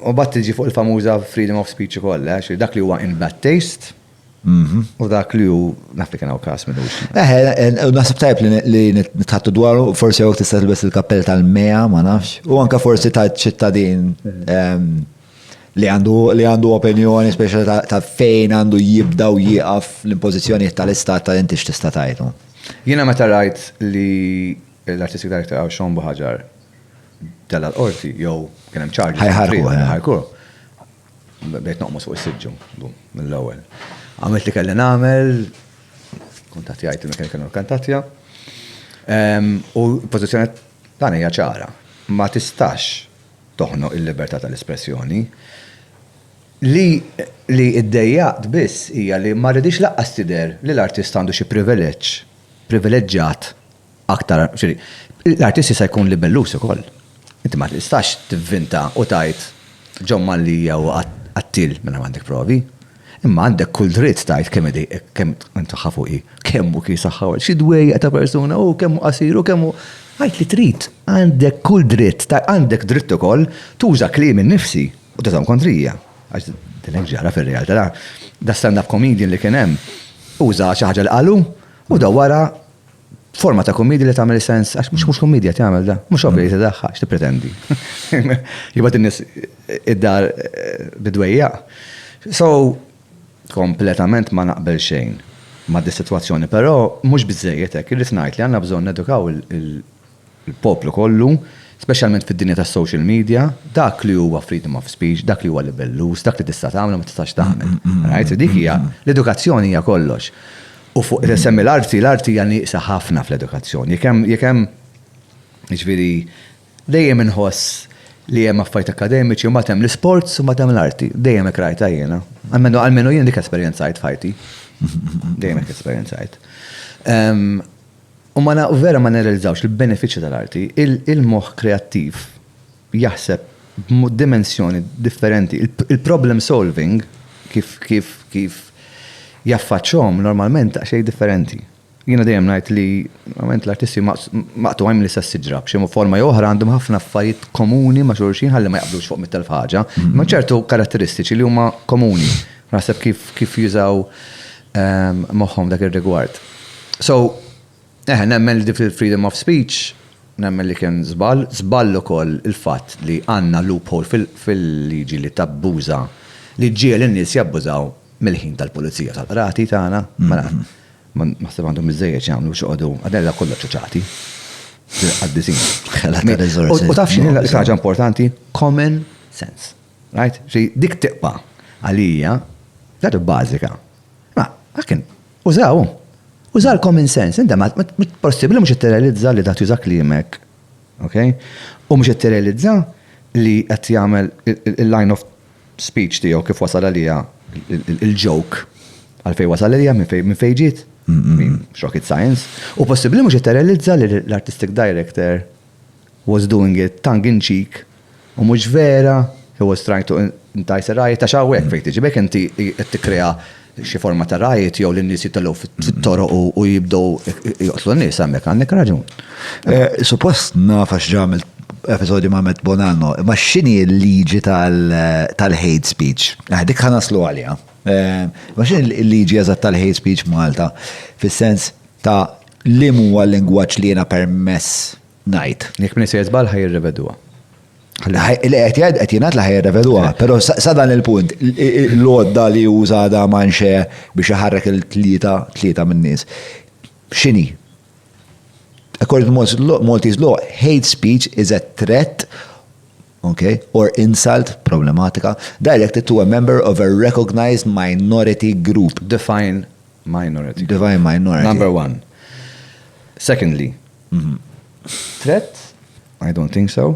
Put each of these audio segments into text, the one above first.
U mbagħad tiġi fuq il-famuża freedom of speech ukoll, eh, ġifieri dak li huwa in bad taste u dak li hu, naf li kien hawn każ minn hux. Eh, u naħseb tajjeb li nitħattu dwaru, forsi hawnhekk tista' tilbes il-kappell tal-MEA, ma nafx, u anke forsi ta' ċittadin li għandu li għandu opinjoni speċjali ta' fejn għandu jibda u jieqaf l-impożizzjonijiet tal-istat ta' inti x'tista' tgħidu. Jiena meta rajt li l-artisti tal-iktar għaw xombu ħaġar tella' l-qorti jew kien hemm charges. Ħajħarquh. Ħajħarquh. Bdejt noqmos fuq is-siġġu mill-ewwel. Għamilt li kelli nagħmel, kuntattjajt il-mekkanika kienu kkantattja. U l-pożizzjoni tagħna hija ċara. Ma tistax toħnoq il-libertà tal-espressjoni. Li ddejjaqt biss hija li ma riditx lanqas tidher li l-artist għandu xi privileġġ, privileġġat aktar, ġifieri, l-artist jista' jkun libellus ukoll. Inti ma tistax tivvinta u tgħid John Mallia hu qattiel mingħajr ma għandek provi. Imma għandek kull dritt tgħid kemm id kemm int saħħa fuqi, kemm hu kien saħħa u xi dwejjaq ta' persuna hu, kemm hu qasir u kemm hu. Għid li trid, għandek kull dritt, għandek dritt ukoll tuża kliem innifsi u tużahom kontrija. Għax din hekk ġara fir-realtà. Da stand-up comedian li kien hemm uża xi ħaġa li qalu u da wara Forma ta' kummedja li tagħmel sens, għax mhux mhux kummedja tagħmel da, mhux ovvja li tiddaħħax tippretendi. Jibgħat in-nies id-dar eh, bidwejja. So, kompletament ma naqbel xejn ma' dis-sitwazzjoni, però mhux biżejjed hekk, irrid ngħid li għandna bżonn edukaw il-poplu kollu, speċjalment fid-dinja tas-social media, dak li huwa freedom of speech, dak li huwa libelluż, dak li tista' tagħmel u ma tistax tagħmel. Rajt? Dik hija, l-edukazzjoni hija kollox. U fuq qed insemmi l-arti, l-arti hija nieqsa ħafna fl-edukazzjoni. Jekk hemm, jekk hemm, jiġifieri, dejjem inħoss li hemm affarijiet akkademiċi u mbagħad hemm l-isports u mbagħad hemm l-arti. Dejjem hekk rajtha jiena. Almenu, almenu jien dik esperjenzajt f'ħajti. Dejjem hekk esperjenzajt. Ehm, U ma na, vera ma nirrealizzawx il-benefiċċji tal-arti. Il-moħħ kreattiv jaħseb b'dimensjoni differenti. Il-problem solving kif jaffaċċhom normalment daqsxejn differenti. Jiena dejjem ngħid li normalment l-artisti huma maqtugħin mill-istess siġra. B'xi forma jew oħra għandhom ħafna affarijiet komuni ma' xulxin ħalli ma jaqblux fuq mitt elf ħaġa. Imma hemm ċertu karatteristiċi li huma komuni. Naħseb kif jużaw moħħhom dak ir-rigward. So, eħe, nemmen li fil-freedom of speech, nemmen li kien żball, żball ukoll il-fatt li għandna loophole fil-liġi li tabbuża, li ġġiegħel in-nies jabbużaw mill-ħin tal-pulizija u tal-qrati tagħna. Mela, ma naħseb għandhom biżżejjed x'jagħmlu biex joqogħdu, għadha hekk kollha ċuċati. Qaddisin. U taf x'inhi l-iktar ħaġa importanti? Common sense. Rajt? Xi dik tiqpa' għalija, dadu bażika. Ma, għakin, uża' hu. Uża' l-common sense, inta ma, possibbli mhux qed tirrealizza li da' tuża' kliemek, ok? U mhux qed tirrealizza li qed jagħmel il-line of speech tiegħu kif wasal għalija il-joke għal fejn wasal għalija minn fejn minn fejn ġiet? Mhux rocket science. U possibbli mhux qed tirrealizza li l-artistic director was doing it tongue in cheek U mhux vera, he was trying to entice a riot, għax hawnhekk fejn tiġi, b'hekk inti qed tikkrea xi forma ta' riot jew li n-nies jitilgħu fit-toroq u jibdew joqtlu n-nies hemmhekk għandek raġun. Suppost naf għax ġa għamilt episodju ma' Matt Bonanno, imma x'inhi l-liġi tal-hate speech? Dik ħa naslu għaliha. Imma x'inhi l-liġi eżatt tal-hate speech f'Malta, fis-sens ta' liem huwa l-lingwaġġ li jiena permess ngħid. Jekk min se jiżball ħaj jirrevedwa. Li qed jgħid qed jingħad li ħaj jirrevedwa, però sa dan il-punt l-għodda li uża da manxe biex iħarrek il-tlieta tlieta min-nies. X'inhi? According to Maltese law, hate speech is a threat okay, or insult, problematika, directed to a member of a recognized minority group. Define minority. Define minority. Number one. Secondly, Tret? I don't think so.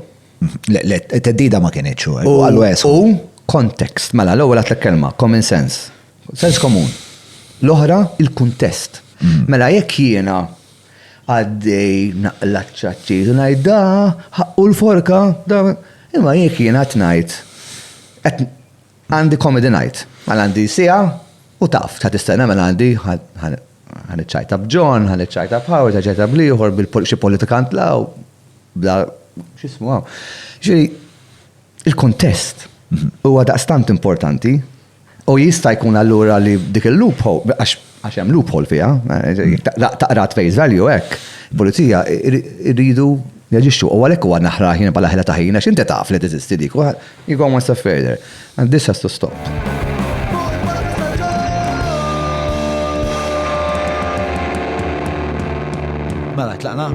Le, le, teddida ma kienieċ u għallu għes. U context, mela, l-ewwel għat kelma common sense. Sens komun. L-oħra, il-kuntest. Mm. Mela, jekk jiena għaddej naqlaċċaċċi, ngħid da, ħaqqu l-forka, da, imma jekk jiena tnajt, Għandi comedy night. Mela għandi siegħa u taf, ħa tistenna mela għandi ħa niċċajta b'John, ħa niċċajta b'Howard, ħa niċċajta bl-ieħor, b'xi politikant la u bla x'ismu hawn. Ġifieri il-kuntest huwa daqstant importanti u jista' jkun allura li dik il-loophole għax għax hemm loophole fiha, taqra t-face value hekk, il-pulizija jridu jaġixxu u għalhekk huwa naħraħ jien bħala ħela ta' ħin għax inti taf li teżisti dik. You go one step further and this has to stop. Mela tlaqna.